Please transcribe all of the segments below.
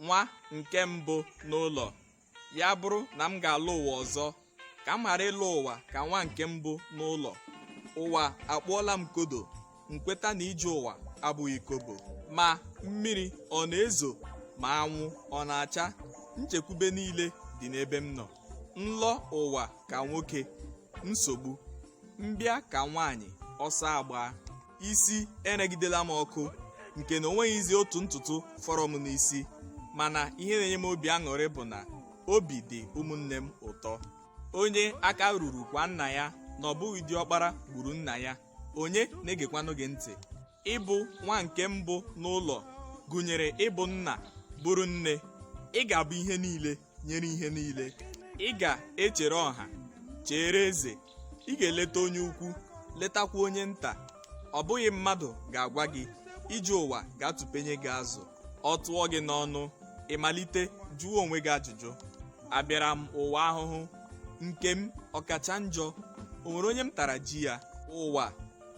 nwa nke mbụ n'ụlọ ya bụrụ na m ga-alọ ụwa ọzọ ka m ghara ịlọ ụwa ka nwa nke mbụ n'ụlọ ụwa akpụọla m kodo m kweta na ije ụwa abụghị kobo ma mmiri ọ na-ezo ma anwụ ọ na-acha nchekwube niile dị n'ebe m nọ m lọ ụwa ka nwoke nsogbu m bịa ka nwaanyị ọsọ agbaa isi eregidela m ọkụ nke na o nweghịzi otu ntutu fọrọ m n'isi mana ihe na-enye m obi aṅụrị bụ na obi dị ụmụnne m ụtọ onye aka ruru kwaa nna ya na ọ bụghị diọkpara gburu nna ya onye na-egekwanụ gị ntị ịbụ nwa nke mbụ n'ụlọ gụnyere ịbụ nna bụrụ nne ị ga-abụ ihe niile nyere ihe niile ị ga-echere ọha chere eze ị ga-eleta onye ukwu letakwa onye nta ọ bụghị mmadụ ga-agwa gị ije ụwa ga-atụpenye gị azụ ọ tụọ gị n'ọnụ ị malite jụọ onwe gị ajụjụ abịara m ụwa ahụhụ nke m ọ kacha njọ o nwere onye m tara ji ya ụwa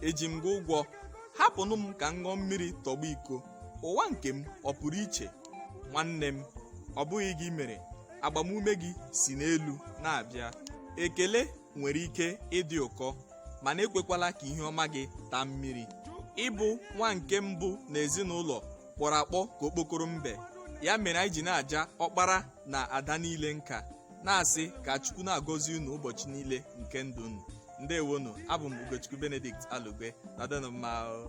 eji m gị ụgwọ hapụnụ m ka m ṅụọ mmiri tọgbọ iko ụwa nke m ọ pụrụ iche nwanne m ọ bụghị gị mere agbamume gị si n'elu na-abịa ekele nwere ike ịdị ụkọ mana ekwekwala ka ihe ọma gị taa mmiri ịbụ nwa nke mbụ n'ezinụlọ kpọrọ akpọ ka okpokoro mbe ya mere anyị ji na-aja ọkpara na ada niile nka na-asị ka chukwu na-agọzi unu ụbọchị niile nke ndụ unu ndewonu abụ m ugochukwu benedict alugbe nọdụnụ mma o